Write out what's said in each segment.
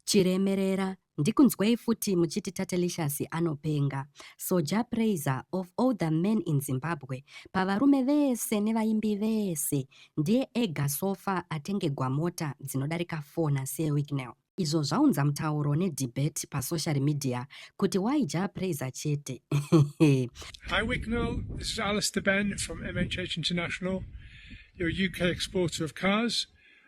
Chiremerera ndikunzwei futi muchiti Tatelicious anopenga. So Jah Prayzah of all the men in Zimbabwe pavarume vese nevaimbi vese ndiye ega so far atengegwa mota dzinodarika 4 naSir Wicknell. Izvo zvaunza mutauro nedebate pasocial media kuti why Jah Prayzah chete. Hi Wicknell, this is Alistair Ben from MHH International, your UK exporter of cars.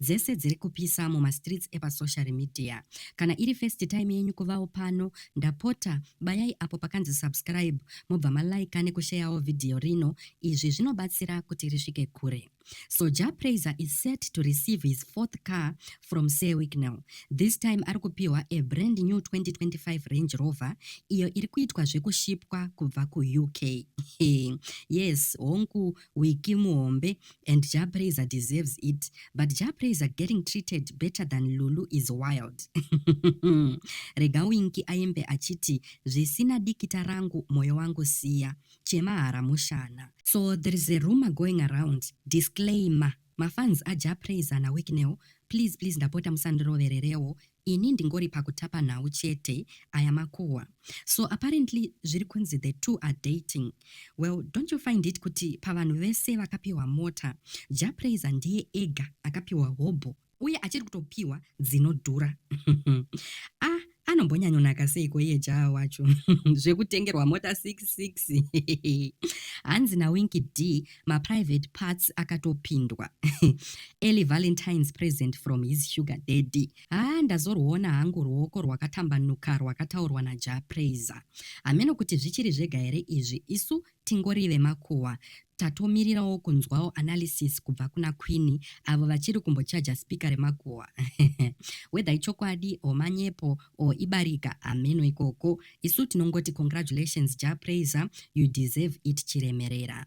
dzese dziri kupisa muma streets epa sociary media kana iri first time yenyu kuvawo pano ndapota bayai apo pakanzi subscribe mobva ma like neku sharewo video rino izvi zvinobatsira kuti risvike kure So Jah Prayzah is set to receive his fourth car from Sir Wicknell. This time ari kupiwa a brand new 2025 Range Rover iyo iri kuitwa zvekushipwa kubva kuUK. yes, hongu we kill muhombe and jah prayzer deserves it but jah prayzer getting treated better than lulu is wild rega winki aimbe achiti zvisina dikita rangu moyo wangu siya chemahara mushana so there is a rumor going around disclaimer mafans ajah prayzer nawicknel please please ndapota musandirovererewo Ini ndingori pakutapa nhau chete aya makuhwa so apparently zviri kunzi the two are dating well don't you find it kuti pavanhu vese vakapiwa mota Jah Prayzah ndiye ega akapiwa hobho uye achiri kutopiwa dzinodhura ah anombonyanyonaka seiko iye Jah wacho zvekutengerwa mota 66 hanzi naWinky Dee maprivate parts akatopindwa early valentines present from his sugar daddy haa ndazorwuona hangu ruoko rwakatambanuka rwakataurwa naja praiser hameno kuti zvichiri zvega here izvi isu tingori vemakuhwa tatomirirawo kunzwawo analysis kubva kuna queeni avo vachiri kumbochaja spika remakuhwa whether ichokwadi o manyepo o ibarika hameno ikoko isu tinongoti congratulations ja praiser you deserve it chiremerera